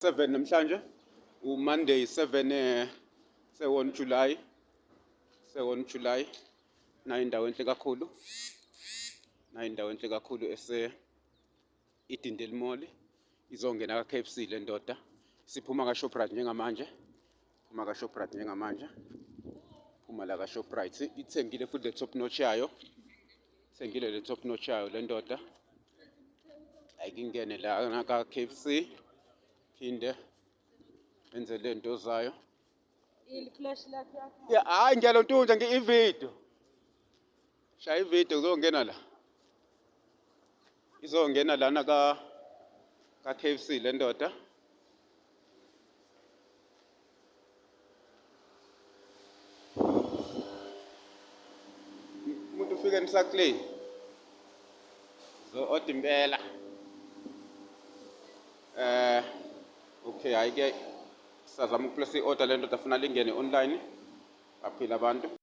7 namhlanje umonday 7 eh, sewon july sewon july nayo indawo enhle kakhulu nayo indawo enhle kakhulu ese idindeli mall izongena ka-kfc le ndoda siphuma ka-shoprite njengamanje phuma ka Shoprite njengamanje phuma la ka Shoprite ithengile futhi le top notch yayo ithengile le top notch yayo le ndoda ayikingene la ngaka KFC phinde enze le nto zayo ili flash lakhe yakho ya hayi ngiyalontunja ngi ivideo shaya ividiyo kuzongena la izongena lana ka ka KFC le ndoda umuntu ufike emsakleni zo oda impela eh okay hayi ke sizama ukuplace i-order le ndoda afuna lingene online baphila abantu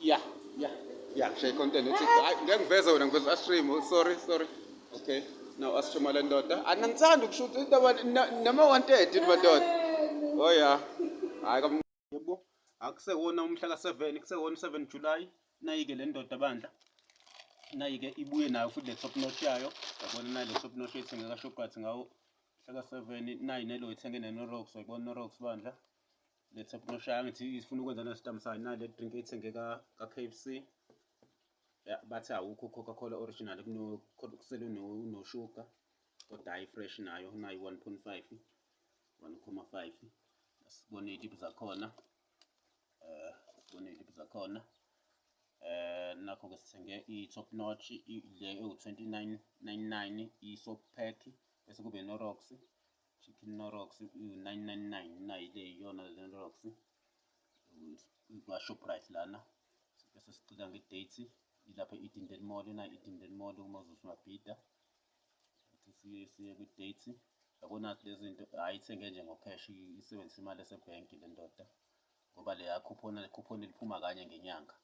Yeah, yeah, yeah. She content. It's I ngeke veze wena ngiveza astream. Oh, sorry, sorry. Okay. Now astream le ndoda. Anangithanda ah, ukushuta indaba nama 130 madoda. Oh yeah. Hayi kam yebo. Akusewona umhla ka 7, kusewona 7 July. Nayike le ndoda bandla. Nayike ibuye nayo futhi le top notch yayo. Yabona nayo le top notch ethenga ka Shoprite ngawo Hlaka 7 nayi nelo ithenge ne Norox uyibona Norox bandla. Lethe kunoshaya ngithi ifuna ukwenza ne stamp sign nale drink ethenge ka ka KFC. Yeah, bathi awukho Coca Cola original kuno kusele no no sugar. Kodwa hayi fresh nayo nayi 1.5 1.5 asibone idip zakhona eh sibone idip zakhona eh nakho ke sithenge i top notch le ewu 2999 i soap pack bese kube Norox chicken Norox u-999 nayi le iyona le Norox kwa-Shoprite lana bese sicela nge-date ilapha e-Edendale Mall na e-Edendale Mall uma uzosibabhida siye kwi-date yabona lezinto ayithenge nje ngokheshi isebenzisa imali esebhenki le ndoda ngoba le yakhuphona le khuphona liphuma kanye ngenyanga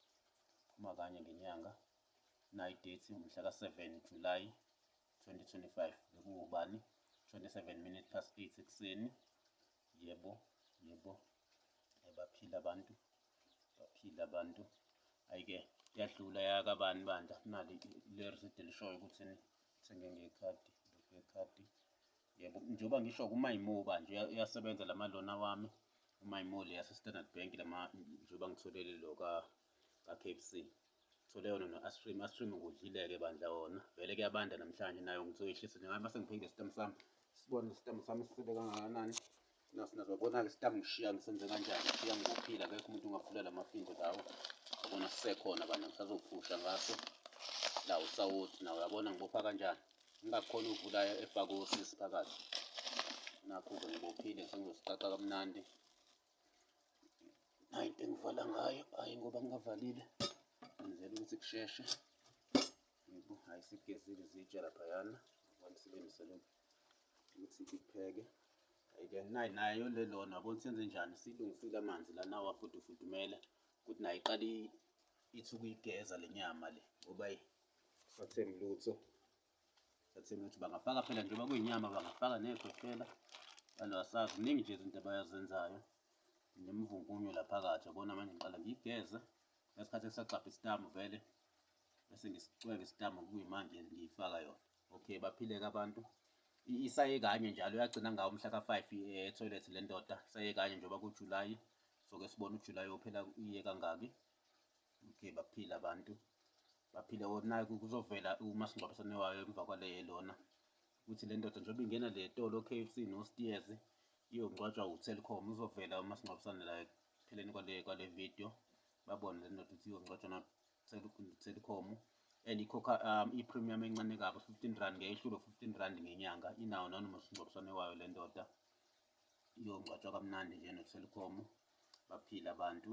phuma kanye ngenyanga nayi date mhla ka-7 July 2025 bekuwubani 27 minutes past 8 ekuseni yebo yebo baphila abantu baphila abantu ayike yadlula yakabani bandla nali le receipt elishoyo ukuthi thenge ngekhadi ngekhadi yebo njengoba ngisho kumayimo banje uyasebenza lama lona wami umayimo le yase Standard Bank lama njengoba ngitholele lo ka kaKFC. Thole yona no-Astream. Astream ngudlile-ke bandla wona. Vele kuyabanda namhlanje nayo ngizoyehlisa njengayo mase ngiphinde isitamu sami. Sibone isitamu sami sisebe kangakanani. Naso nazobona-ke isitamu ngishiya ngisenze kanjani. Ngishiya ngophila akekho umuntu ongavula la mafindo lawo. Yabona sisekhona bandla ngisazophusha ngaso. La usawoti nawo yabona ngibopha kanjani. Ngingakhona ukuvula efake osisi phakathi. Nakho-ke ngibophile sengizosiqaqa kamnandi. Hayi into engivala ngayo, hhayi ngoba ngingavalile ngenzela ukuthi kusheshe. Yebo, hhayi sigezile izitsha laphayana ngoba silungisele ukuthi ipheke. Hhayi-ke nayi nayo le lona yabona senze njani, silungisile amanzi la nawa futhi ufudumele ukuthi nayo iqale ithi ukuyigeza le nyama le ngoba ayi kusatheni lutho. Sekuthenga ukuthi bangafaka phela njengoba kuyinyama bangafaka ney'khwehlela kanti asazi kuningi nje izinto abayazenzayo nemvungunyo la phakathi yabona manje ngiqale ngiyigeze ngesikhathi esagxabha isitambu vele bese ngisicweke isitambu kuyimanje ngiyifaka yona okay baphileke abantu isaye kanye njalo yagcina ngawo umhla ka-five ethoyilethi eh, le ndoda isaye kanye njengoba kujulayi soke sibone ujulayi ophela iye kangaki okay baphila abantu Baphile or naye kuzovela umasingcwabisane wayo emva kwale lona ukuthi le ndoda njengoba ingena le tolo KFC no Steers iyongcwatshwa uTelkom uzovela umasingcwabisane la ekupheleni kwale kwale video babone le ndoda ukuthi iyongcwatshwa na Telkom and ikhokha um, i-premium encane kabi 15 rand ngeyehlulo 15 rand ngenyanga inawo nani umasingcwabisane wayo le ndoda iyongcwatshwa kamnandi nje noTelkom baphile abantu